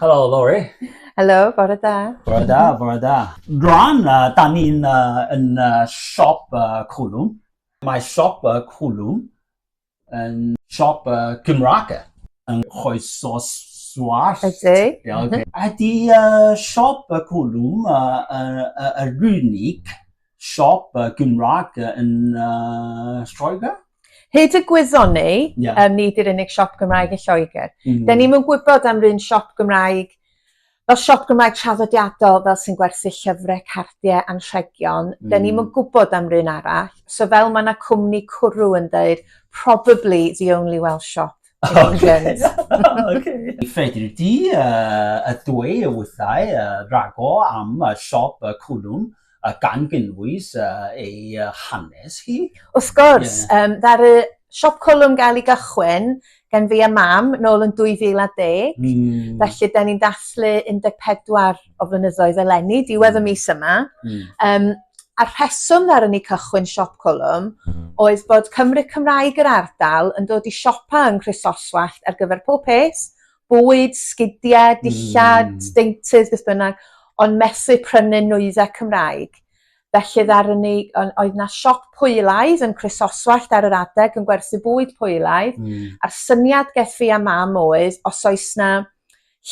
Helo, Lori. Helo, bore da. Bore da, bore da. Rwan, uh, da ni'n uh, yn uh, siop uh, Cwlwm. Mae siop uh, Cwlwm yn siop uh, Gymraeg yn choeso swars. Ydy. Yeah, okay. Mhm. Ydy uh, siop y Cwlwm uh, uh, uh, yr unig siop yy Gymraeg yy yn yy Lloegr? Hyd y gwyddon ni yeah. um, ni di'r unig siop Gymraeg yn Lloegr. Mm. Mm-hmm. Da ni'n yn gwybod am run siop Gymraeg fel siop Gymraeg traddodiadol fel sy'n gwerthu llyfrau, cardiau, anrhegion. Mm. Da ni'n yn mm. gwybod am run arall. So fel mae yna cwmni cwrw yn dweud, probably the only Welsh shop. Oce. Fedri di yy dweud wrthai ragor am siop y cwlwm gan gynnwys ei hanes hi? Wrth gwrs! Ddaru siop cwlwm gael ei gychwyn gan fi a Mam nôl yn 2010, felly 'den ni'n dathlu 14 o flynyddoedd eleni, diwedd y hmm. mis yma. Mm. Um, a rheswm ddar yn ei cychwyn siop colwm hmm. oedd bod Cymru Cymraeg yr ardal yn dod i siopa yng Nghrisoswallt ar gyfer pob peth, bwyd, sgidiau, hmm. dillad, mm. deintydd, beth bynnag, ond methu prynu nwyddau Cymraeg. Felly ddar yn ei, oedd na siop pwylaidd yn Crisoswallt ar yr adeg yn gwerthu bwyd pwylaidd, mm. a'r syniad geth fi a mam oedd, os oes na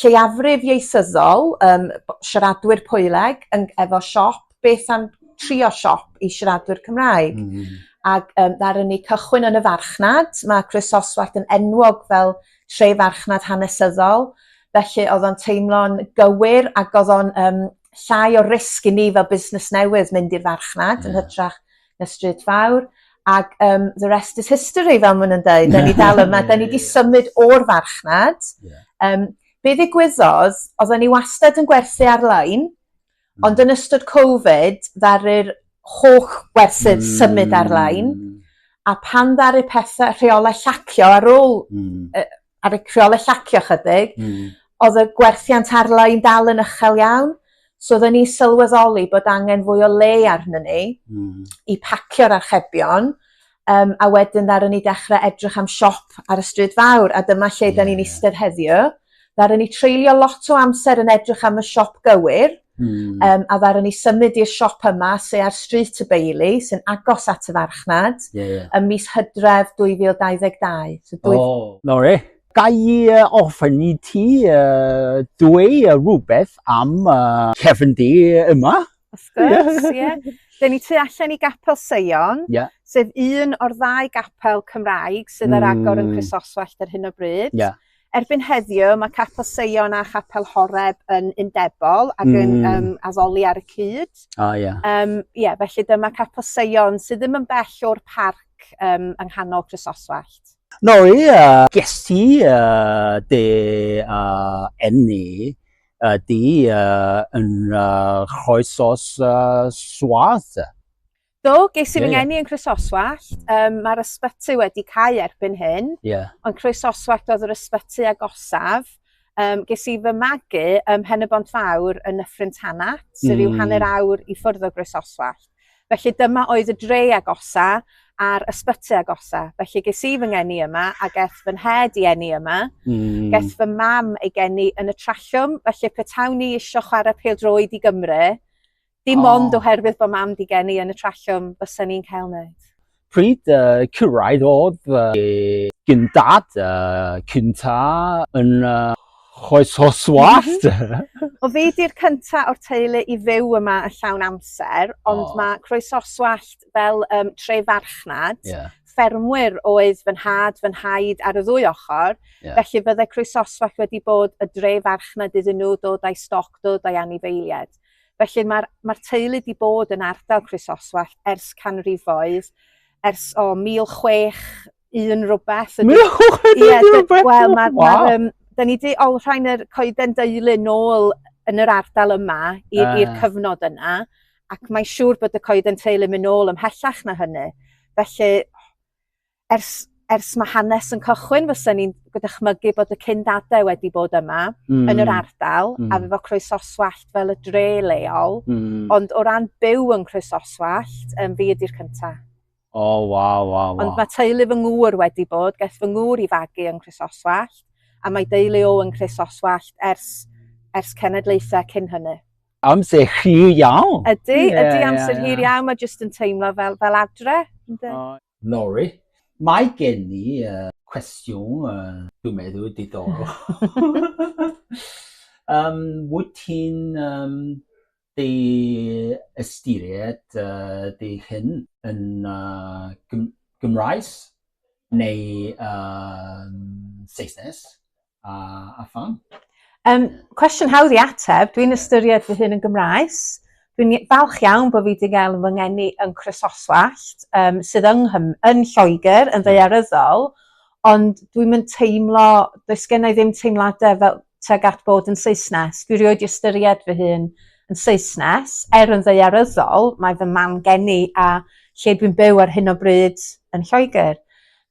lleiafrif ieithyddol yym b- siaradwyr Pwyleg yn g- efo siop beth am trio siop i siaradwyr Cymraeg? Hmm. Ag yym ddaru ni cychwyn yn y farchnad ma' Croesoswallt yn enwog fel tre farchnad hanesyddol felly o'dd o'n teimlo'n gywir ag o'dd o'n yym llai o risg i ni fel busnes newydd mynd i'r farchnad yn hytrach y Stryd Fawr, ac um, the rest is history, fel maen nhw'n dweud. Da ni dal yma, da ni wedi symud o'r farchnad. Yeah. Um, be ddigwyddodd, oedden ni wastad yn gwerthu ar-lein, mm. ond yn ystod Covid, ddaru'r holl werthydd mm. symud ar-lein, a pan ddaru pethau rheolau llacio ar ôl mm. uh, ar y criolau llacio ychydig, mm. oedd y gwerthiant arlai'n dal yn uchel iawn. So oedden ni sylweddoli bod angen fwy o le arnyn ni mm. i pacio'r archebion, um, a wedyn ddaren ni dechrau edrych am siop ar y stryd fawr, a dyma lle yeah. da ni'n eistedd heddiw. Ddaren ni treulio lot o amser yn edrych am y siop gywir, Hmm. Um, a ddaru ni symud i'r siop yma, se ar Stryd y Beili, sy'n agos at y farchnad, yeah, yeah. ym mis hydref 2022. So dwy... Oh, no re. Ga i uh, ofyn i ti uh, dwy uh, rhywbeth am uh, cefn di yma? Of course, ie. Yeah. Dyn ni tu allan i Gapel Seion, yeah. sef un o'r ddau gapel Cymraeg sydd ar agor mm. yn Chrysoswallt ar hyn o bryd. Yeah. Erbyn heddiw mae Capel Seion a Chapel Horeb yn undebol ac yn mm. um, addoli ar y cyd. O, oh, ie. Yeah. Um, yeah, felly dyma Capel Seion sydd ddim yn bell o'r parc um, yng nghanol Chrysoswallt. No, ie. Yeah. Ges ti uh, de uh, enni uh, di uh, yn uh, choesos uh, swath? Do, ges i fy yeah, ngeni yn Croesoswallt. Um, Mae'r ysbyty wedi cael erbyn hyn, yeah. ond Croesoswallt oedd yr ysbyty agosaf. Um, ges i fy magu ym Mhen y Bont Fawr yn Nyffryn Tanat, sydd mm. yw hanner awr i ffwrdd o Groesoswallt. Felly dyma oedd y dre agosa a'r ysbyty agosa. Felly ges i fy ngeni yma a geth fy nhed i eni yma. Mm. Geth fy mam ei geni yn y trallwm. Felly petawn i eisiau chwarae pel droed i Gymru, Dim oh. ond oherwydd bod mam di gen i yn y trallwm bysa ni'n cael wneud. Pryd uh, cyrraedd oedd uh, gyntad uh, cynta yn uh, choes o swast. Mhm. o fi di'r cynta o'r teulu i fyw yma y llawn amser, ond oh. mae croes o swast fel um, tre farchnad. Yeah ffermwyr oedd fy nhad, fy nhaid ar y ddwy ochr, yeah. felly byddai croesoswallt wedi bod y dre farchnad iddyn nhw dod â'i stoc, dod â'i anifeiliaid. Felly mae'r mae'r teulu 'di bod yn ardal Croesoswallt ers canrifoedd, ers o 1061 rwbeth. Ydy... 1061 yeah, rhywbeth? Wel, mae... Wow. Ma, um, da ni wedi olrhain yr coeden deulu nôl yn yr ardal yma i'r uh. cyfnod yna, ac mae'n siŵr bod y coeden teulu mynd nôl ymhellach na hynny. Felly, ers ers ma' hanes yn cychwyn fysen i'n go' dychmygu bod y cyn dade wedi bod yma... Hmm. ...yn yr ardal... Hmm. ...a efo croesoswallt fel y dre leol. Hmm. Ond o ran byw yn Croesoswallt yym fi ydi'r cynta. O waw waw waw. Ond ma' teulu fy ngŵr wedi bod geth fy ngŵr i fagu yn Croesoswallt a mae deulu o yn Croesoswallt ers ers cenedlaethau cyn hynny. Amser hir iawn. Ydy, ydy amser hir iawn, mae jyst yn teimlo fel fel adre. Yndi. Lori. Mae gen i cwestiwn dwi'n meddwl diddorol. Yym, wyt ti'n dy ystyried dy hun yn Gymraes neu Saesnes? a, a pham? Um, cwestiwn hawdd i ateb, dwi'n ystyried fy hun yn Gymraes. Dwi'n falch iawn bod fi wedi cael fy ngeni yn Chrysoswallt, um, sydd yng Nghym yn Lloegr, yn hmm. ddeiaryddol, ond dwi'n mynd teimlo, does gen i ddim teimladau fel teg at bod yn Saesnes. Dwi rioed i ystyried fy hun yn Saesnes, er yn ddeiaryddol, mae fy mam geni a lle dwi'n byw ar hyn o bryd yn Lloegr.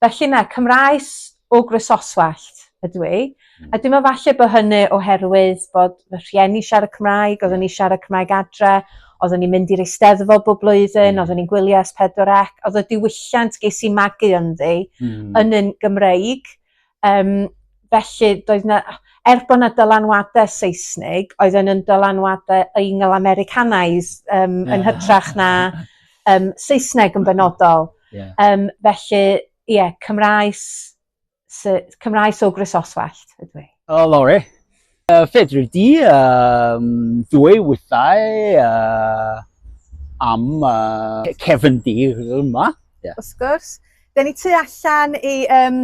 Felly na, Cymraes o Grososwallt ydw i. A dwi'n me'wl falle bo' hynny oherwydd bod fy rhieni siarad Cymraeg oddwn i siarad Cymraeg adre oddwn i'n mynd i'r Eisteddfod bob blwyddyn oddwn i'n gwylio Es Pedwar Ec odd y diwylliant ges i magu ynddi... Hmm. ...yn un Gymreig yym felly doedd 'na er bo' 'na dylanwade Seisnig oedden yn dylanwade Eingl-Americanised yym yn hytrach na yym Saesneg yn benodol. Ie. Yym felly Ie, Cymraes, Cymraes o Gresoswallt ydw i. O, Lore. Uh, fedri di um, ddwy wythau uh, am uh, cefn di yma. Yeah. Wrth gwrs. Da ni tu allan i um,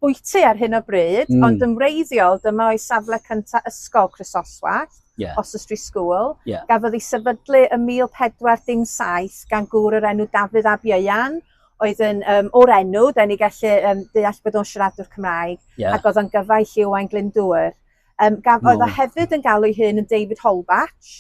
bwyty ar hyn o bryd, mm. ond yn wreiddiol, dyma o'i safle cyntaf ysgol Chrysoswallt, yeah. Oswestry School. Yeah. Gafodd ei sefydlu ym 1417 gan gŵr yr enw Dafydd Ab Ieuan. oedd yn um, o'r enw, da ni gallu um, deall bod o'n siaradwr Cymraeg, yeah. ac oedd o'n gyfaill i Owain Glyndŵr. Um, gaf, no. Oedd o hefyd yn galw ei hun yn David Holbatch,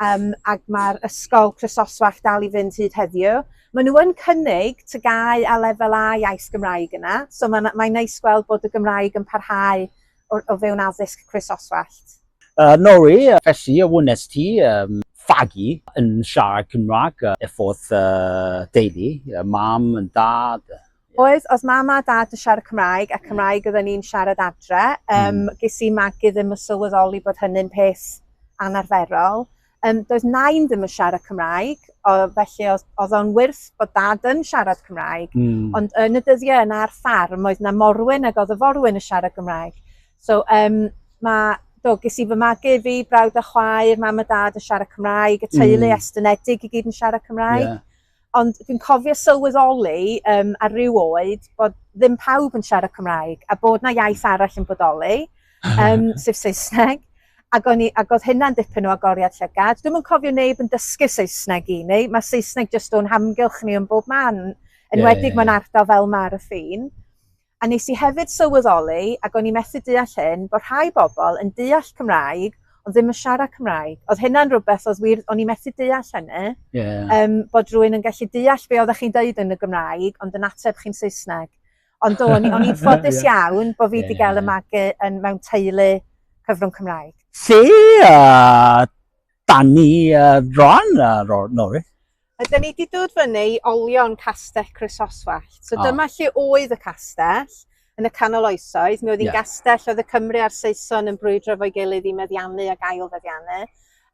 um, ac mae'r ysgol Chrysoswach dal i fynd hyd heddiw. Maen nhw yn cynnig tygau a lefel A iaith Gymraeg yna, so mae'n mae neis gweld bod y Gymraeg yn parhau o, o fewn addysg croesoswallt? Uh, Nori, felly, a wnes ti um, fagu yn siarad Cymraeg uh, efforth uh, deulu, uh, mam yn dad? Yeah. Oedd, oedd mam a dad yn siarad Cymraeg a Cymraeg oedden ni'n siarad adre. Um, mm. Ges i magu ddim yn sylweddoli bod hynny'n peth anarferol. Yym, doedd nain ddim yn siarad Cymraeg, o, felly oedd o'n wyrth bod dad yn siarad Cymraeg, mm. ond yn y dyddiau yna ar ffarm oedd na morwyn ac oedd y forwyn yn siarad Gymraeg. So, um, mae do, ges i fy magu fi, brawd a chwaer, mam a dad yn siarad Cymraeg, y teulu mm. estynedig i gyd yn siarad Cymraeg. Yeah. Ond dwi'n cofio sylweddoli um, ar ryw oed bod ddim pawb yn siarad Cymraeg a bod na iaith arall yn bodoli, um, sef Saesneg. Ac, o'n i, ac oedd hynna'n dipyn o agoriad llygad. Dwi'n yn cofio neb yn dysgu Saesneg i ni. Mae Saesneg jyst o'n hamgylch ni yn bob man. Yn yeah, wedi yeah, yeah. mae'n ardal fel mae'r ffin. A nes i hefyd sylweddoli, ac o'n i methu deall hyn, bod rhai bobl yn deall Cymraeg ond ddim yn siarad Cymraeg. Oedd hynna'n rhywbeth oedd wir, o'n i methu deall hynny. Yeah. Um, bod rhywun yn gallu deall be oeddech chi'n deud yn y Gymraeg ond yn ateb chi'n Saesneg. Ond o'n i'n ffodus iawn bod fi wedi yeah. gael y magu yn mewn teulu cyfrwng Cymraeg. Lle uh, da ni uh, rhan uh, Norris? Ydy ni wedi dod fyny i olion castell Croesoswallt. So oh. dyma lle oedd y castell yn y canol oesoedd. Mi oedd hi'n yeah. gastell oedd y Cymru a'r Saeson yn brwydro fo'i gilydd i meddiannu ac ail feddiannu.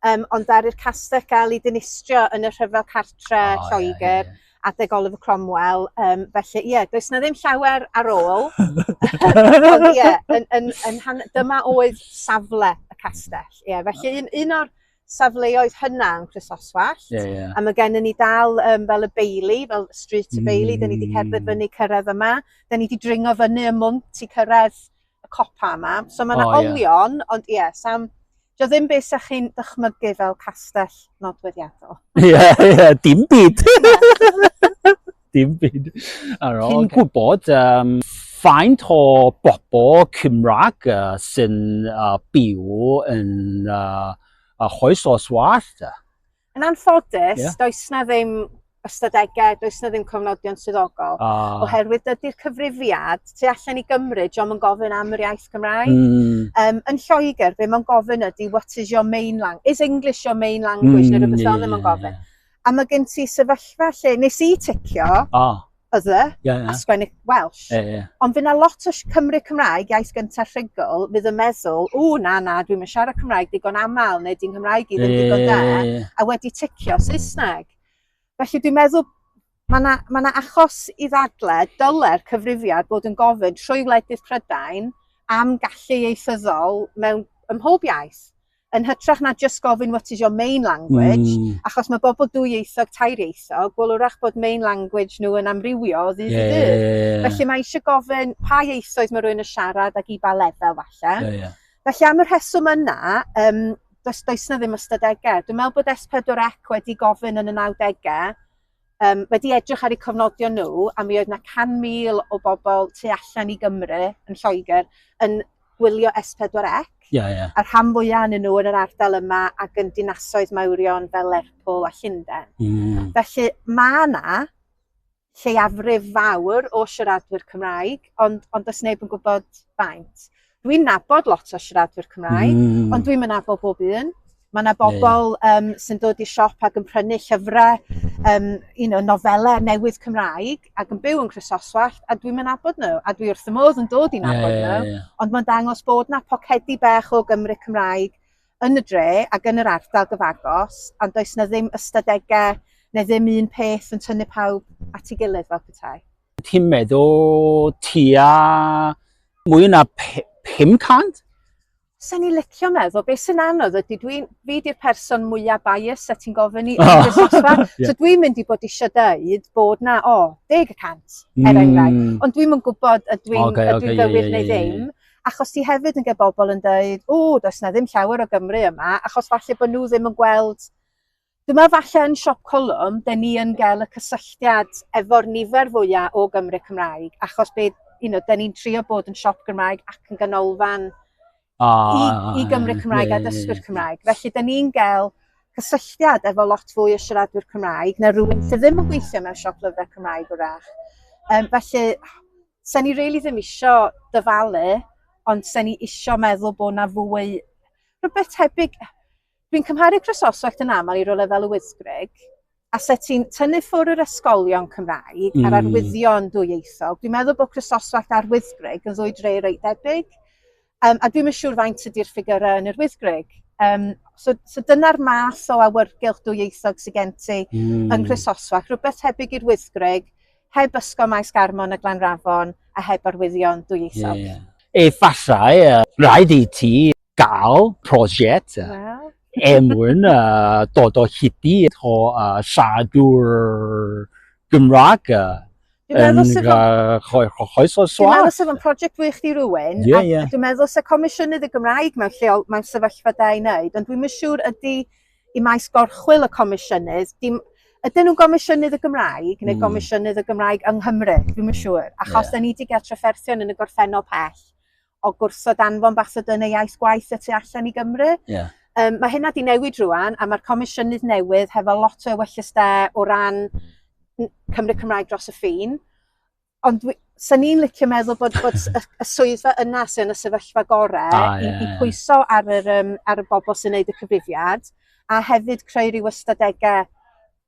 Um, ond ar i'r castell gael ei dinistrio yn y rhyfel cartre oh, Lloegr yeah, yeah. adeg Oliver Cromwell. Um, felly, ie, yeah, does na ddim llawer ar ôl. ond ie, yeah, yn, yn, yn, yn, dyma oedd safle y castell. Ie, yeah, felly un, un o'r safleoedd hynna yn Chrysoswallt. Ie, ie. A mae gennym ni dal um, fel y Bailey, fel Street y Bailey, mm. da ni wedi cerdded fyny cyrraedd yma. Da ni wedi dringo fyny y mwnt i cyrraedd y copa yma. So mae yna oh, olion, yeah. ond ie, yeah, sam... Dio ddim beth sa'ch chi'n dychmygu fel castell nodweddiadol. Ie, yeah, ie, yeah, dim byd. dim byd ar ôl. Chi'n gwybod um, faint o bobl Cymraeg uh, sy'n uh, byw yn uh, a choes os wallt? Yn anffodus, yeah. does na ddim ystadegau, does na ddim cofnodion swyddogol. Ah. Oherwydd dydy'r cyfrifiad tu allan i Gymru, diolch yn gofyn am yr iaith Gymraeg. Mm. Um, yn Lloegr, be mae'n gofyn ydy, what is your main language? Is English your main language? Mm, neu rhywbeth yeah, ddim yn gofyn. a mae gen ti sefyllfa lle nes i ticio O, oedd e, ie, ie. a sgwennu Welsh. Ie, ie. Ond fydd na lot o sh- Cymry Cymraeg, iaith gyntaf rhugl, fydd yn meddwl, o na na, dwi'n mynd siarad Cymraeg digon aml, neu di'n Nghymraeg i ddim Ie, digon da, ie, ie. a wedi ticio Saesneg. Felly dwi'n meddwl, mae yna ma 'na achos i ddadle, dyle'r cyfrifiad bod yn gofyn trwy wledydd Prydain am gallu ieithyddol mewn ym mhob iaith. yn hytrach na just gofyn what is your main language, mm. achos mae bobl dwyieithog, tairieithog, wel wrach bod main language nhw yn amrywio o ddydd yeah, i ddydd. Yeah, yeah. Felly mae eisiau gofyn pa ieithoedd mae rhywun yn siarad ac i ba lefel falle. Yeah, yeah. Felly am y rheswm yna, um, does, does na ddim ystadegau. Dwi'n meddwl bod S4C wedi gofyn yn y 90au um, wedi edrych ar eu cofnodion nhw, a mi oedd yna 100,000 o bobl tu allan i Gymru yn Lloegr yn gwylio S4C, yeah, yeah. a'r rhan fwyaf yn nhw yn yr ardal yma ac yn dinasoedd mawrion fel Lerpwl a Llundain. Mm. Felly mae yna lleiafrif fawr o siaradwyr Cymraeg, ond, ond does neb yn gwybod faint. Dwi'n nabod lot o siaradwyr Cymraeg, mm. ond dwi'n mynafol bob un. Mae yna bobl yeah. um, sy'n dod i siop ac yn prynu llyfrau, um, you know, nofelau newydd Cymraeg ac yn byw yn Chrysoswallt a dwi'n mynd abod nhw a dwi wrth y modd yn dod i'n abod yeah, yeah, nhw. Yeah, yeah. Ond mae'n dangos bod na pocedi bech o Gymru Cymraeg yn y dre ac yn yr ardal gyfagos a does na ddim ystadegau neu ddim un peth yn tynnu pawb at ei gilydd fel petai. Ti'n meddwl tua mwy na 500? Sa'n ni licio meddwl, beth sy'n anodd ydy, dwi'n, fi di'r person mwyaf bias a ti'n gofyn i Iris oh. Osfa, so dwi'n mynd i bod eisiau dweud bod na, o, oh, deg y cant, er mm. enghraifft, mm. ond dwi'n mynd gwybod a dwi'n okay, okay, dwi gywir yeah, neu ddim, achos ti hefyd yn gael bobl yn dweud, o, does na ddim llawer o Gymru yma, achos falle bod nhw ddim yn gweld Dyma falle yn Siop Colwm, dyn ni yn gael y cysylltiad efo'r nifer fwya o Gymry Cymraeg, achos bydd, you know, dyn ni'n trio bod yn siop Gymraeg ac yn ganolfan i, i Gymru Cymraeg a dysgwyr Cymraeg. Felly, dyn ni'n gael cysylltiad efo lot fwy o siaradwyr Cymraeg na rhywun sydd ddim yn gweithio mewn siop lyfrau Cymraeg wrach. Um, felly, sen ni really ddim isio dyfalu, ond sen ni isio meddwl bod na fwy rhywbeth tebyg Dwi'n cymharu Croesoswallt yn aml i rywle fel y Wyddgrug, a lle ti'n tynnu ffwr yr ysgolion Cymraeg mm. a'r arwyddion dwyieithog, dwi'n meddwl bod Chrysoswallt a'r Wyddgrug yn ddwy dre reit debyg, um, a dwi'n yn siŵr faint ydy'r ffigurau yn yr Wyddgrug. Um, so so dyna'r math o awyrgylch dwyieithog sy'n gen ti mm. yn Chrysoswallt, rhywbeth tebyg i'r Wyddgrug, heb ysgol maes garmon y Glanrafon a heb arwyddion dwyieithog. Yeah, yeah. Efallai, uh, rhaid i ti gael prosiect well. emwyn uh, dod o hiti o uh, siadwr Gymraeg uh, yn choes o swat. Dwi'n meddwl sef yn prosiect wych di rwy'n, yeah, yeah. dwi'n meddwl sef comisiynydd y Gymraeg mewn lleol, mewn sefyllfa da i wneud, ond dwi'n mynd siŵr ydy i maes gorchwyl y comisiynydd, dim, Ydyn nhw'n gomisiynydd y Gymraeg neu mm. gomisiynydd y Gymraeg yng Nghymru, dwi'n yn siŵr, achos yeah. da ni wedi gael trafferthion yn y gorffennol pell o gwrsio danfon bach sydd yn ei iaith gwaith y tu allan i Gymru. Yeah. Um, mae hynna di newid rwan, a mae'r comisiynydd newydd hefo lot o ewellysdau o ran Cymru Cymraeg dros y ffin. Ond sy'n ni'n licio meddwl bod, bod y, y swyddfa yna sy'n y sefyllfa gorau ah, yeah. i, i pwyso ar, yr, um, ar y bobl sy'n neud y cyfrifiad a hefyd creu rhyw ystadegau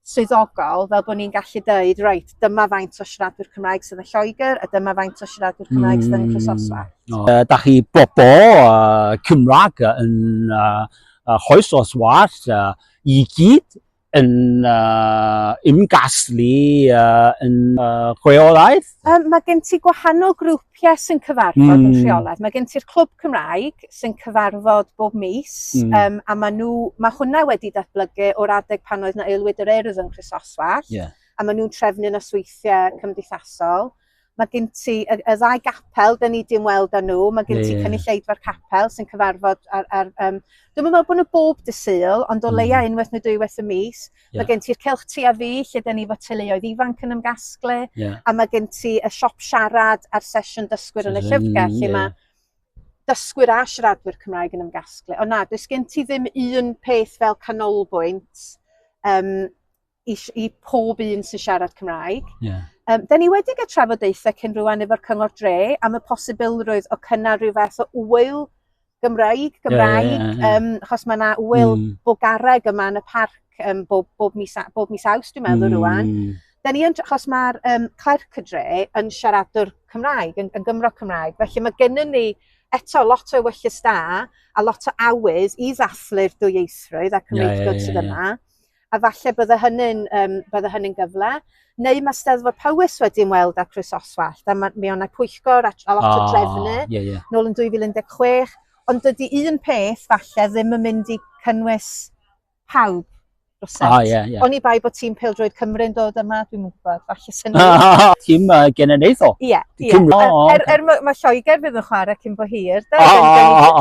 swyddogol fel bod ni'n gallu dweud, reit, dyma faint o siaradwyr Cymraeg sydd yn Lloegr a dyma faint o siaradwyr Cymraeg sydd yn Chrysosfa. Mm, uh, da chi bobl uh, Cymraeg yn uh, uh, hoes os was uh, i gyd yn uh, ymgaslu uh, yn uh, chweolaeth? Um, mae gen ti gwahanol grwp grwpiau sy'n cyfarfod mm. yn rheolaidd. Mae gen ti'r clwb Cymraeg sy'n cyfarfod bob mis mm. um, a mae, nhw, mae hwnna wedi datblygu o'r adeg pan oedd na aelwyd yr erdd yn Chrysoswell yeah. a mae nhw'n trefnu na sweithiau cymdeithasol. Mae gen ti y, y ddau gapel, dyn ni dim weld â nhw, mae gen yeah, ti yeah. cynulleidfa'r capel sy'n cyfarfod ar... ar um, dwi'n meddwl bod nhw bob dysul, ond o mm. leia unwaith neu dwy waith y mis, Yeah. Mae gen ti'r celch ti a fi, lle da ni fod teuluoedd ifanc yn ymgasglu, yeah. a mae gen ti y siop siarad a'r sesiwn dysgwyr yn y llyfrgell, lle yeah. mae dysgwyr a siaradwyr Cymraeg yn ymgasglu. Ond na, does gen ti ddim un peth fel canolbwynt um, i, i pob un sy'n siarad Cymraeg. Yeah. Um, da ni wedi gael trafodaethau cyn rhywun efo'r Cyngor Dre am y posibilrwydd o cynnar rhyw fath o wyl Gymraeg, Gymraeg, yeah, yeah, yeah. Um, achos mae yna wyl mm. bogareg yma yn y parc um, bob, bob, mis, bob mis awst, dwi'n meddwl, mm. rwan. Da ni yn, achos mae'r um, clerc y dre yn siaradwr Cymraeg, yn, yn Gymro Cymraeg, felly mae gennym ni eto lot o wyllus da a lot o awydd i ddathlu'r dwyieithrwydd a cymreigdod yeah, yeah, yeah, sydd yma. a falle bydde hynny'n um, bydde hynny'n gyfle. Neu mae Steddfod Powys wedi ymweld â Chris Oswald, a mae, mi o'n pwyllgor a, a lot oh, o ah, drefnu, yeah, yeah. nôl yn 2016, ond dydy un peth falle ddim yn mynd i cynnwys pawb rhywsut. Oh, yeah, yeah. Oni bai bod tîm Pildroed Cymru'n dod yma, dwi'n mwyn gwybod, falle. lwcus hynny. Tîm uh, genedlaethol. Ie, ie. Er, er mae Lloegr fydd yn chwarae cyn bo hir. Da, oh,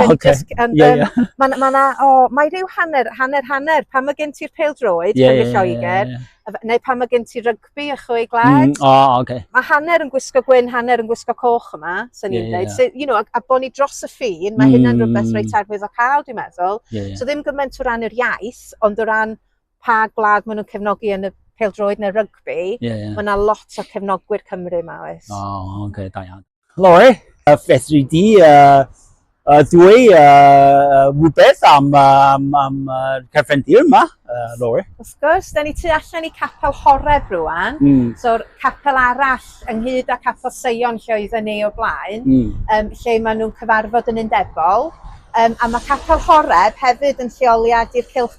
oh, okay. Ond yeah, yeah. mae ma na, o, oh, mae rhyw hanner, hanner, hanner. Pan mae gen ti'r pel droed, yeah, yeah, Lloegr, yeah, yeah neu pan mae gen ti rygbi a chwy glad. Mm, oh, okay. Mae hanner yn gwisgo gwyn, hanner yn gwisgo coch yma, sy'n ni'n dweud. Yeah, yeah. you know, a, a bod ni dros y ffin, mae mm. hynna'n rhywbeth reit arwydd o cael, dwi'n meddwl. Yeah, yeah. So ddim gymaint o ran yr iaith, ond o ran pa gwlad maen nhw'n cefnogi yn y peldroed neu rygbi, yeah, yeah. mae yna lot o cefnogwyr Cymru yma, oes? O, oh, oce, okay, da iawn. Lore, uh, fedri di uh, uh, dwi uh, rhywbeth am, am, am uh, cefndir yma, uh, Lore? Wrth gwrs, da ni tu allan i capel horef rwan, mm. so'r capel arall ynghyd â capel Seion lle oedd yn ei o blaen, mm. um, lle maen nhw'n cyfarfod yn undebol, um, a mae capel horef hefyd yn lleoliad i'r cylch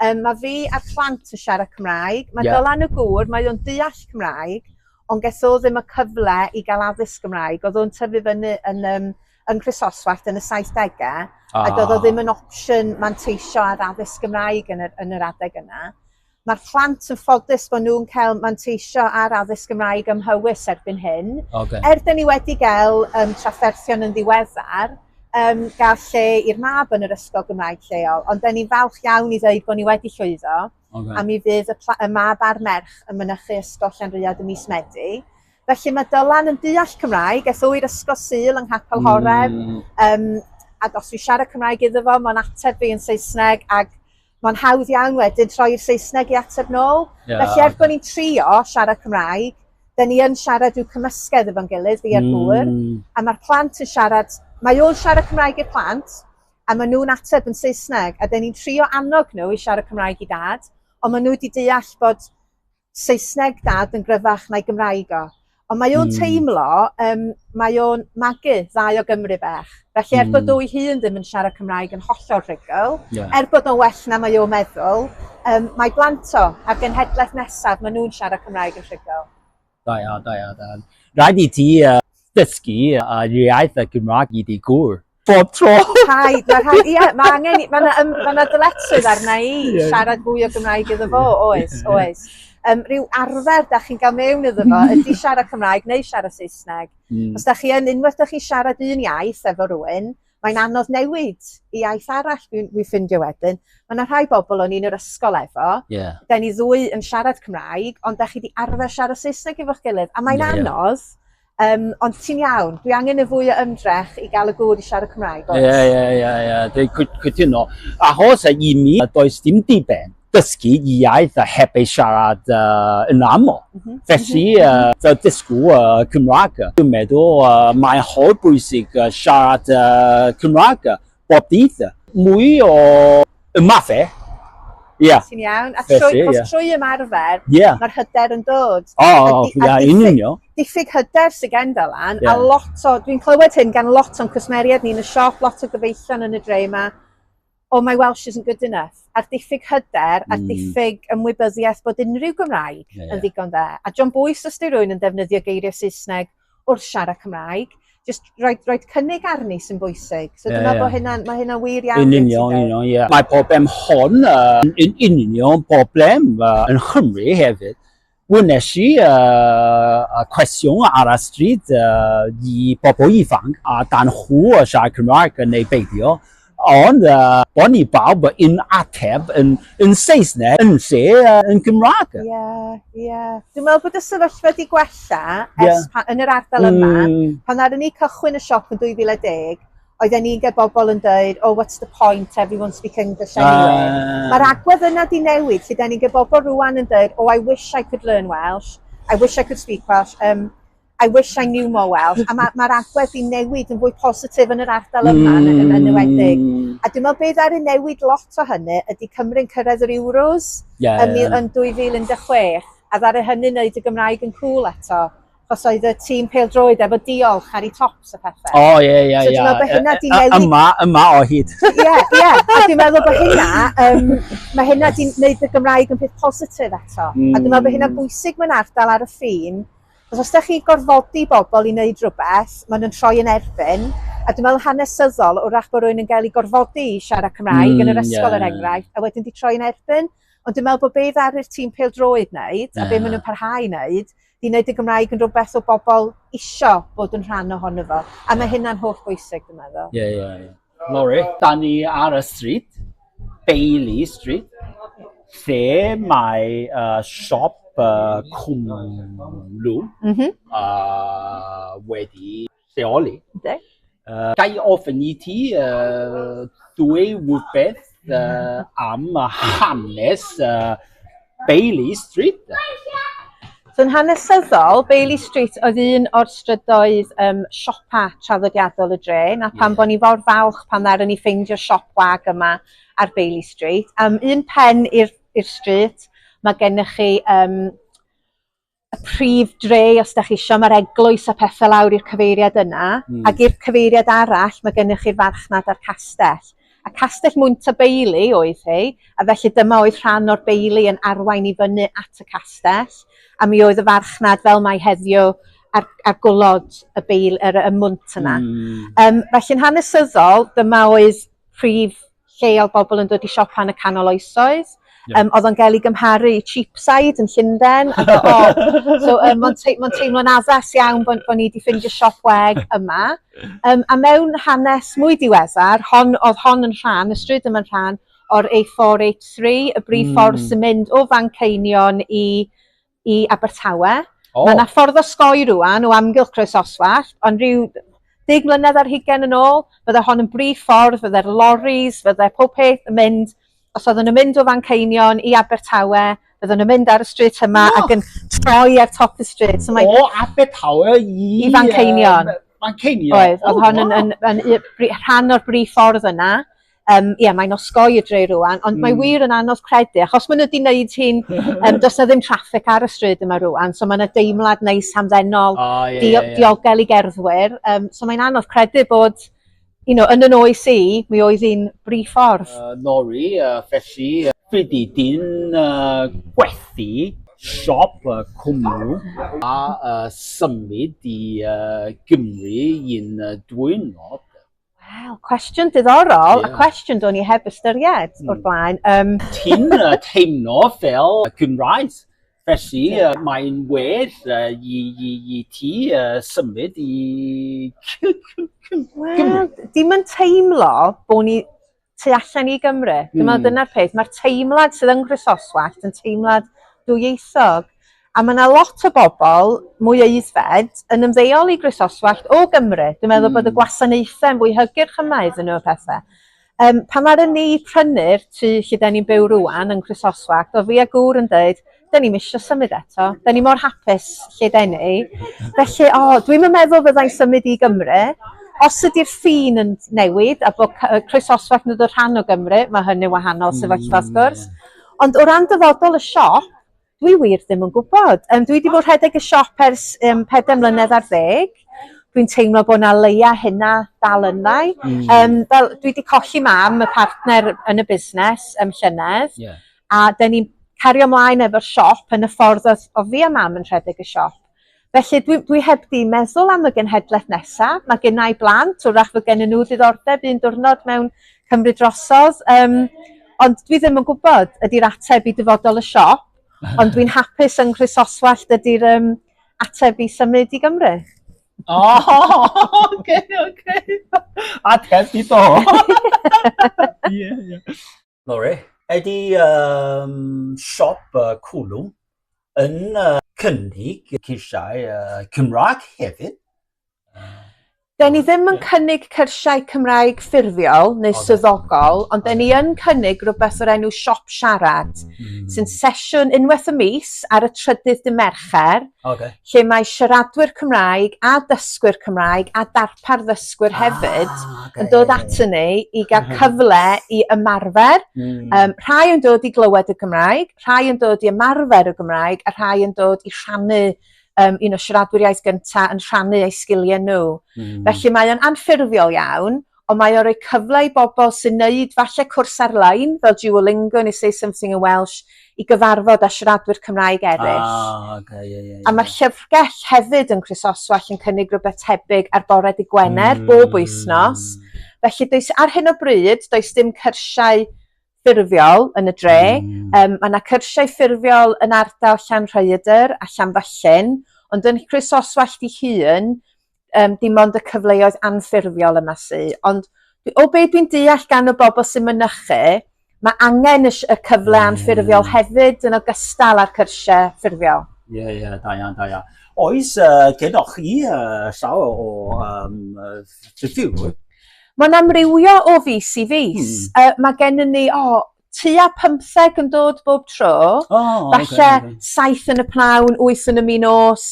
Um, mae fi a'r plant yn siarad Cymraeg. Mae yeah. Dylan y gŵr, mae o'n deall Cymraeg, ond ges o ddim y cyfle i gael addysg Gymraeg. Oedd o'n tyfu fyny yn, um, yn Chrysoswallt yn y 70au, ah. a doedd o ddim yn opsiwn manteisio ar addysg Gymraeg yn yr, yn yr adeg yna. Mae'r plant yn ffodus bod nhw'n cael manteisio ar addysg Gymraeg ym Mhywys erbyn hyn. Okay. Er dyn ni wedi gael um, trafferthion yn ddiweddar, um, gael lle i'r mab yn yr ysgol Gymraeg lleol, ond da ni'n falch iawn i ddweud bod ni wedi llwyddo, okay. a mi fydd y, y mab a'r merch yn mynychu ysgol Llanrhiad y mis Medi. Felly mae Dylan yn deall Cymraeg, eth o'i'r ysgol syl yng Nghapel Horeb, mm. um, a os fi siarad Cymraeg iddo fo, mae'n ateb fi yn Saesneg, ac Mae'n hawdd iawn wedyn troi'r Saesneg i ateb nôl. Yeah, Felly, er okay. bod ni'n trio siarad Cymraeg, dyn ni yn siarad i'w cymysgedd efo'n gilydd, fi a'r gŵr, mm. a mae'r plant yn siarad, mae o'n siarad Cymraeg i'r plant, a maen nhw'n ateb yn Saesneg, a dyn ni'n trio annog nhw i siarad Cymraeg i dad, ond maen nhw wedi deall bod Saesneg dad yn gryfach na'i Gymraeg o. Ond mae o'n mm. teimlo, um, mae o'n magu ddau o Gymru bach. Felly er mm. bod hmm. o'i hun ddim yn siarad Cymraeg yn hollol rhygl, yeah. er bod o'n well na mae o'n meddwl, um, mae blant o a'r genhedlaeth nesaf, maen nhw'n siarad Cymraeg yn rhygl. Da iawn, da iawn, da iawn. Rhaid i ti uh, dysgu uh, iaith y Gymraeg i di gwr. bob tro. Rhaid, mae rhaid, ie, mae angen, mae yna um, ma dyletswydd arna i yeah. siarad fwy o Gymraeg iddo fo, oes, oes. Um, rhyw arfer da chi'n cael mewn iddo fo ydy siarad Cymraeg neu siarad Saesneg. Mm. Os da chi yn unwaith da chi siarad un iaith efo rhywun, mae'n anodd newid i iaith arall dwi'n dwi ffindio wedyn. Mae yna rhai bobl o'n i'n yr ysgol efo, yeah. da ni ddwy yn siarad Cymraeg, ond da chi wedi arfer siarad Saesneg efo'ch gilydd, a mae'n yeah, anodd. Yeah Um, ond ti'n iawn, dwi angen y fwy o ymdrech i gael y gŵr i siarad Cymraeg, oes? Ie, ie, ie, ie, dwi'n cytuno. Achos a i mi, does dim diben dysgu iaith a heb ei siarad uh, yn aml. Mm -hmm. Felly, uh, so dysgu uh, Cymraeg. Dwi'n meddwl uh, mae'n holl bwysig uh, siarad uh, Cymraeg. bob dydd. Mwy o y math e. Ia. Ti'n iawn? A trwy, Felly, ia. trwy ymarfer, yeah. mae'r hyder yn dod. O, oh, ia, yn union. Diffyg hyder sy'n gen fel an, yeah. a lot o, dwi'n clywed hyn gan lot o'n cwsmeriad ni'n y siop, lot o gyfeillion yn y dre yma, oh, my Welsh isn't good enough. A'r diffyg hyder, a'r mm. diffyg ymwybyddiaeth bod unrhyw Gymraeg yeah, yeah. yn ddigon dda. A John Boyce, os di rwy'n yn defnyddio geiriau Saesneg, wrth siarad Cymraeg. Just rhoi, rhoi cynnig arni sy'n bwysig. So yeah, dyna yeah. bod hynna'n, mae hynna'n wir iawn. Yn union, yn union, ie. Mae problem hon uh, yn union problem uh, yn Chymru hefyd. Wnes i uh, cwestiwn ar y stryd uh, i bobl ifanc a dan chw siarad Cymraeg yn ei beidio. Ond uh, bod ni bawb yn ateb yn, yn Saesneg yn lle uh, yn Gymraeg. Ie, yeah, ie. Yeah. Dwi'n meddwl bod y sefyllfa wedi gwella yeah. pa, yn yr ardal mm. yma. Hmm. Pan ar ni cychwyn y siop yn 2010, oedden ni'n gael bobl yn dweud, oh, what's the point, everyone speak English anyway. Uh. Mae'r agwedd yna di newid, lle da ni'n gael bobl rwan yn dweud, oh, I wish I could learn Welsh, I wish I could speak Welsh. Um, I wish I knew more Welsh. A mae'r ma, ma agwedd i newid yn fwy positif yn yr ardal yma mm. yn, yn enwedig. Hmm. A dwi'n meddwl beth ar ei newid lot o hynny ydy Cymru'n cyrraedd yr Euros yeah, yn, yeah. yn 2016. A ddare hynny wneud y Gymraeg yn cool eto os oedd y tîm peldroed efo diolch ar ei tops y pethau. O, ie, ie, ie. So dwi'n meddwl bod hynna di newid... Yma, yma o hyd. Ie, ie. A dwi'n meddwl bod hynna, um, mae hynna di wneud y Gymraeg yn peth positif eto. Mm. A dwi'n meddwl bod hynna hmm. bwysig mewn ardal ar y ffin, Achos os dach chi'n gorfodi bobl i wneud rhywbeth, maen nhw'n troi yn erbyn, a dwi'n meddwl hanesyddol, wrach bod rhywun yn cael ei gorfodi i siarad Cymraeg mm, yn yr ysgol yeah. er enghraifft, a wedyn di troi yn erbyn. Ond dwi'n meddwl bod be ddaru'r tîm peldroed wneud, yeah. a be maen nhw'n parhau wneud, di wneud y Gymraeg yn rhywbeth o bobl isio bod yn rhan ohono fo. A mae hynna'n holl bwysig, dwi'n meddwl. Ie, yeah, ie, yeah, ie. Yeah. Lori. Da ni ar y stryd, Bailey Street, lle mae uh, siop uh, cwmlw mm -hmm. uh, wedi lleoli. Okay. Uh, gai ofyn i ti uh, dwy wybeth uh, am hanes uh, Bailey Street? So yn hanesyddol, Bailey Street oedd un o'r strydoedd um, siopa traddodiadol y dre, na pan yeah. bod ni fawr falch pan ddaren ni ffeindio siop wag yma ar Bailey Street. Um, un pen i'r stryd, mae gennych chi um, y prif dre os da chi isio ma'r eglwys a pethe lawr i'r cyfeiriad yna mm. ac i'r cyfeiriad arall mae gennych chi'r farchnad a'r castell. A castell Mwnt y Beili oedd hi, a felly dyma oedd rhan o'r beili yn arwain i fyny at y castell, a mi oedd y farchnad fel mae heddiw ar, ar gwlod y beil, yr, y mwnt yna. Mm. Um, felly'n hanesyddol, dyma oedd prif lle odd bobol yn dod i siopa yn y canol oesoedd. Ie. Yym odd o'n ga'l 'i gymharu i Cheapside yn Llunden a o so yym ma'n tei- ma'n teimlo'n addas iawn bo' n- bo' ni 'di ffindio siop wag yma. Yym a mewn hanes mwy diweddar hon odd hon yn rhan y stryd yma'n rhan o'r A four eight three y brif ffordd... Hmm. ...sy'n mynd o Fanceinion i i Abertawe. Oh. Mae yna ffordd osgoi rwan o amgylch Croesoswallt, ond rhyw deg mlynedd ar hugen yn ôl, fydde hon yn brif ffordd, fydde'r loris, fydde pob peth yn mynd, os oedden nhw'n mynd o fan Ceinion i Abertawe, fydden nhw'n mynd ar y stryd yma oh. ac yn troi ar top y stryd. So mae... O, Abertawe i... I fan Ceinion. Fan Ceinion? Oedd, oedd oh, hon yn, yn, yn, yn, rhan o'r brif ffordd yna. Yym ie mae'n osgoi y dre rŵan ond mae wir yn anodd credu achos ma' nw 'di neud hi'n yym do's 'na ddim traffig ar y stryd yma rŵan so ma' 'na deimlad neis hamddenol... O ie ie ie. ...dio- diogel i gerddwyr yym so mae'n anodd credu bod you know yn 'yn oes i mi oedd 'i'n bri ffordd. Yy Norri yy felly yy fyddi di'n yy gwerthu siop yy cwmwl a yy symud i yy Gymru un yy dwyrnod? Wel, cwestiwn diddorol, yeah. a cwestiwn do'n i heb ystyried mm. o'r blaen. Um... Ti'n uh, teimlo fel Cymraes, felly yeah. uh, mae'n well uh, i, i, i ti uh, symud i Cymru. Wel, dim yn teimlo bod ni tu allan i Gymru. Dwi'n meddwl hmm. dyna'r peth. Mae'r teimlad sydd yng Nghryssoswallt yn teimlad dwyieithog. A mae yna lot o bobl mwy aeddfed yn ymddeol i Grisoswallt o Gymru. Dwi'n meddwl mm. bod y hmm. gwasanaethau yn fwy hygyrch yma iddyn nhw pethau. Um, pan ar ni prynu'r tu lle da ni'n byw rwan yn Chrysoswallt, o fi a gŵr yn dweud, 'dyn ni'm isio symud eto 'dyn ni mor hapus lle 'den ni. Felly o dwi'm yn meddwl fyddai'n symud i Gymru. Os ydi'r ffin yn newid a bo' c- yy croesoswallt yn dod rhan o Gymru ma' hynny'n wahanol sefyllfa wrth gwrs. Ond o ran dyfodol y siop dwi wir ddim yn gwbod. Yym dwi 'di bod rhedeg y siop ers yym pedair mlynedd ar ddeg. Dwi'n teimlo bo' 'na leia' hynna dal yndda i. Yym fel dwi 'di colli mam y partner yn y busnes ym llynedd. Ie. a dyn ni'n cario ymlaen efo'r siop yn y ffordd oedd o fi a mam yn rhedeg y siop. Felly dwi, dwi heb di meddwl am y genhedlaeth nesaf. Mae gen i blant, wrach fod gen nhw ddiddordeb un diwrnod mewn cymryd drosodd. Um, ond dwi ddim yn gwybod ydy'r ateb i dyfodol y siop, ond dwi'n hapus yng Nghrisoswallt ydy'r um, ateb i symud i Gymru. Oh, okay, okay. Ateb i do. yeah, yeah. Lore. Ydy um, siop uh, cwlwm yn uh, cynnig cyrsiau uh, Cymraeg hefyd. Da ni ddim yn cynnig cyrsiau Cymraeg ffurfiol neu okay. swyddogol, ond okay. da ni yn cynnig rhywbeth o'r enw Siop Siarad, mm. sy'n sesiwn unwaith y mis ar y trydydd dy Mercher, Oce. Lle mae siaradwyr Cymraeg a dysgwyr Cymraeg a darpar ddysgwyr hefyd ah, okay. yn dod atyn ni i gael mhm. cyfle i ymarfer. Mm. Um, rhai yn dod i glywed y Gymraeg, rhai yn dod i ymarfer y Gymraeg a rhai yn dod i rhannu um, un o siaradwyr iaith gyntaf yn rhannu eu sgiliau nhw. Mm. Felly mae o'n anffurfiol iawn, ond mae o'n rhoi cyfle i bobl sy'n neud falle cwrs ar-lein fel Duolingo neu Say Something in Welsh i gyfarfod â siaradwyr Cymraeg eraill. Ah, ok, ie, ie, ie. A mae'r llyfrgell hefyd yn Chrysoswallt yn cynnig rhywbeth tebyg ar bore dy Gwener mm. bob wythnos. Felly does ar hyn o bryd does dim cyrsiau ffurfiol yn y dre. Hmm. Yym ma' 'na cyrsiau ffurfiol yn ardal Llanrhaeadr a Llanfyllin ond yn Croesoswallt 'i hun yym dim ond y cyfleoedd anffurfiol yma sy ond o be' dwi'n deall gan y bobl sy'n mynychu mae angen y, y cyfle hmm. anffurfiol hefyd yn ogystal â'r cyrsiau ffurfiol. Ie yeah, ie yeah, da iawn da iawn. Oes uh, gennych chi uh, llawer o um, uh, Mae'n amrywio o fis i fis. Mm. Uh, mae gennym ni, o, oh, tua 15 yn dod bob tro. O, oh, Falle okay, okay. 7 yn y pnawn, 8 yn y mi nos,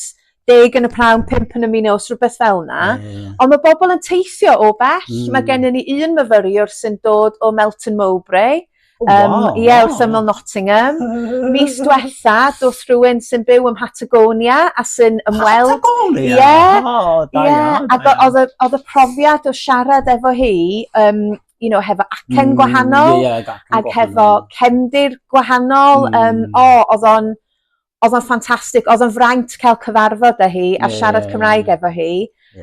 10 yn y pnawn, 5 yn y mi nos, rhywbeth fel yna. Yeah, yeah. Ond mae bobl yn teithio o bell. Mm. Mae gennym ni un myfyriwr sy'n dod o Melton Mowbray. O waw. Yym ie wrth ymyl Nottingham. Mis dwetha doth rhywun sy'n byw ym Mhatagonia a sy'n ymweld... Patagonia? Ie. O da iawn. Ie a do- odd y odd y profiad o siarad efo hi yym you know hefo acen gwahanol... Hmm ie ie ag acen gwahanol. ...ag hefo cefndir gwahanol yym o odd o'n odd o'n ffantastic odd o'n fraint ca'l cyfarfod â hi a siarad Cymraeg efo hi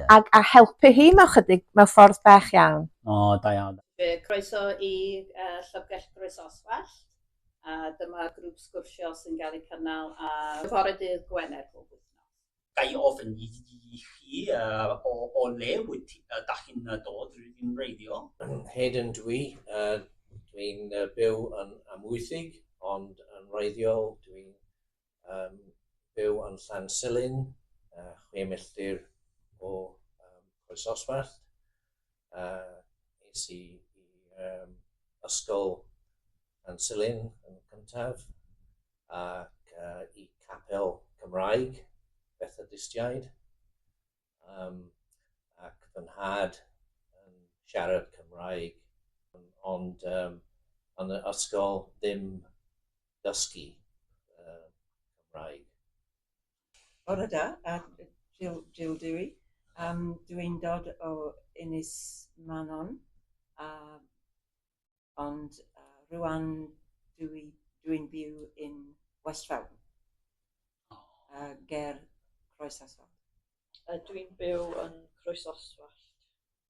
a a helpu hi mewn chydig mewn ffordd bach iawn. O da iawn. Yy croeso i yy Llyfrgell Groesoswallt a dyma grŵp sgwrsio sy'n ga'l 'i cynnal ar fore dydd Gwener bob wythnos. Ga i ofyn i chi o le wyt dach chi'n dod, rydyn ni'n wreiddiol? Hayden dw i, dw i'n byw yn Amwythig ond yn wreiddiol dw i'n byw yn Llansilin, chwe milltir o Croesoswallt. uh, es i i um, ysgol yn Silyn yn cyntaf ac uh, i capel Cymraeg Bethodistiaid um, ac fy nhad yn siarad Cymraeg ond um, yn y ysgol ddim dysgu uh, Cymraeg. Bore da, a Jill Jill dw i. Yym dw i'n dod o Ynys Manon a ond yy rŵan dw i dw i'n byw yn West Feldon. O. Yy ger Croesoswallt. Yy dw i'n byw yn Croesoswallt.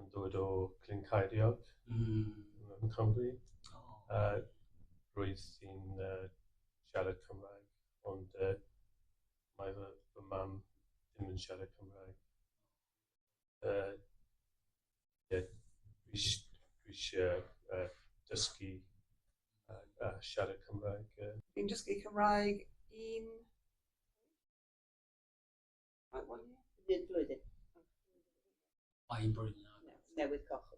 yn dod o Glyn Ceiriog mm. yn Cymru. Oh. A roedd hi'n uh, siarad Cymraeg, ond uh, mae fy, fy mam ddim yn siarad Cymraeg. Uh, yeah, dwi eisiau uh, dysgu a, a siarad Cymraeg. Uh. Fi'n dysgu Cymraeg un Hyd blwyddyn. Mae hi'n bwrw na. Newydd coch.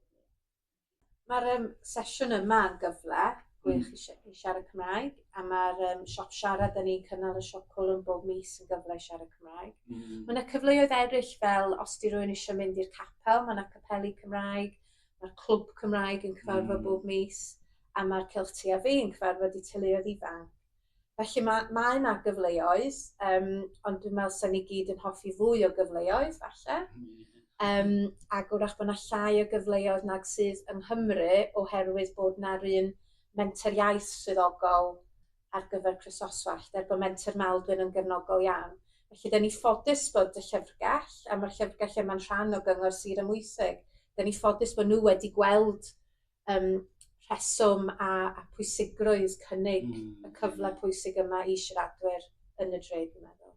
Mae'r um, sesiwn yma yn gyfle gwych mm. i, i siarad Cymraeg, a mae'r um, siop siarad yn ni'n cynnal y siop cwlwm bob mis yn gyfle i siarad Cymraeg. Mm. Mae yna cyfleoedd eraill fel os di rwy'n eisiau mynd i'r capel, mae yna capeli Cymraeg, mae'r clwb Cymraeg yn cyfarfod mm. bob mis, a mae'r Celtia fi yn cyfarfod i teuluoedd ifanc. Felly ma' mae 'na gyfleoedd yym ond dwi'n me'wl sa ni gyd yn hoffi fwy o gyfleoedd falle. Yym ag 'w'rach bo' 'na llai o gyfleoedd nag sydd yng Nghymru oherwydd bod 'na'r un Menter Iaith swyddogol ar gyfer Chrysoswallt er bo' Menter Maldwyn yn gefnogol iawn. Felly 'dyn ni ffodus bod y llyfrgell a ma'r llyfrgell yma'n rhan o Gyngor Sir Amwythig 'dyn ni ffodus bo' n'w wedi gweld yym rheswm a a pwysigrwydd cynnig... Hmm. ...y cyfle pwysig yma i siaradwyr yn y dre dwi'n meddwl.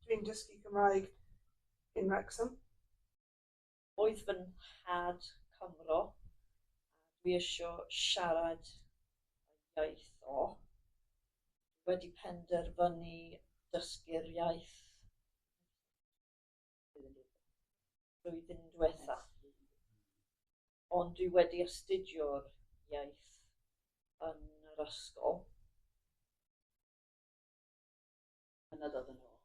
Dwi'n dysgu Cymraeg in Wrexham. Oedd fy nhad Cymro a dwi isio siarad ei iaith o. Wedi penderfynu dysgu'r iaith. flwyddyn diwetha, ond dwi wedi astudio'r iaith yn yr ysgol. Yna dod yn ôl.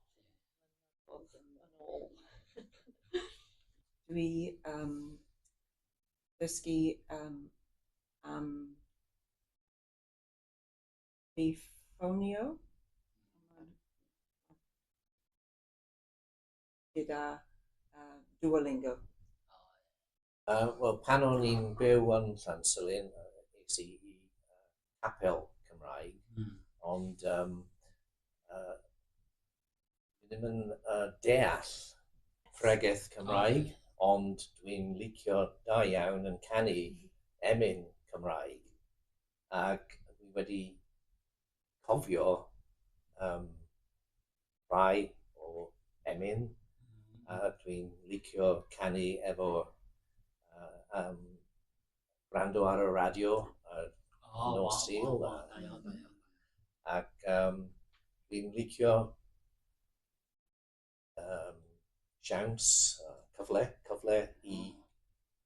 Dod yn ôl. dwi um, dysgu um, am mi ffonio gyda uh, Duolingo? Uh, Wel, pan o'n i'n byw yn Llansilin, es i i capel Cymraeg, mm. ond um, uh, ddim yn uh, deall pregeth Cymraeg, oh. ond dwi'n licio da iawn yn canu emyn Cymraeg. Ac dwi wedi cofio um, rhai o emyn a dwi'n licio canu efo uh, um, brando ar y radio a oh, nos wow, Sul. Wow, wow, da iawn, da iawn. Ac um, dwi'n licio um, siawns, uh, cyfle, cyfle i